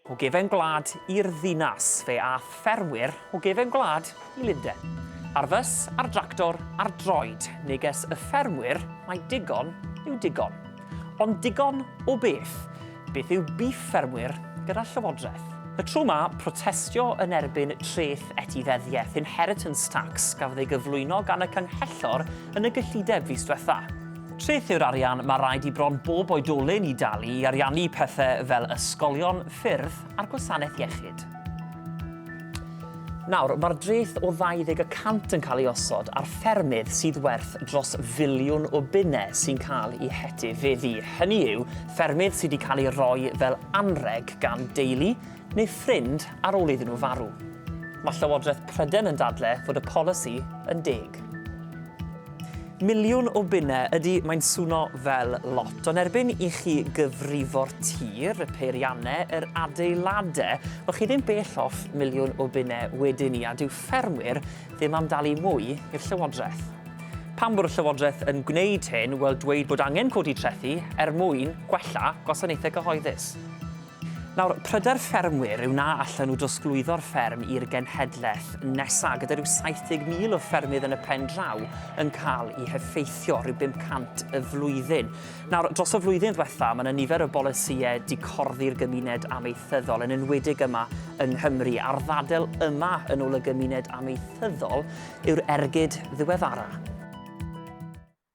O gefn gwlad i'r ddinas, fe ath ffermwyr o gefn gwlad i Lunden. Ar fys, ar dractor, ar droed, neges y ffermwyr mai digon yw digon. Ond digon o beth? Beth yw bîff ffermwyr gyda Llywodraeth? Y tro 'ma, protestio yn erbyn treth etifeddiaeth, inheritance tax, gafodd ei gyflwyno gan y Canghellor yn y gyllideb fis diwetha'. Treth yw'r arian mae rhaid i bron bob oedolyn i dalu i ariannu pethau fel ysgolion, ffyrdd a'r gwasanaeth iechyd. Nawr, mae'r dreth o 20 y cant yn cael ei osod ar ffermydd sydd werth dros filiwn o bunnau sy'n cael eu hetifeddu. Hynny yw, ffermydd sydd wedi cael eu rhoi fel anrheg gan deulu, neu ffrind ar ôl iddyn nhw farw. Mae Llywodraeth Prydain yn dadle fod y polisi yn deg. Miliwn o bunnau, ydy, mae'n swno fel lot, ond erbyn i chi gyfrifo'r tir, y peiriannau, yr adeiladau, wel chi ddim bell off miliwn o bunnau wedyn ni, a dyw ffermwyr ddim am dalu mwy i'r Llywodraeth. Pam bod y Llywodraeth yn gwneud hyn? Wel, dweud bod angen codi trethi er mwyn gwella gwasanaethau cyhoeddus. Nawr, pryder ffermwyr yw na allen nhw drosglwyddo'r fferm i'r genhedlaeth nesaf, gyda rhyw 70,000 o ffermydd yn y pen draw yn cael eu heffeithio, rhyw 500 y flwyddyn. Nawr, dros y flwyddyn ddiwetha', mae 'na nifer o bolisïau dicorddi'r gymuned amaethyddol, yn enwedig yma yng Nghymru, a'r ddadl yma, yn ôl y gymuned amaethyddol, yw'r ergyd ddiweddara'.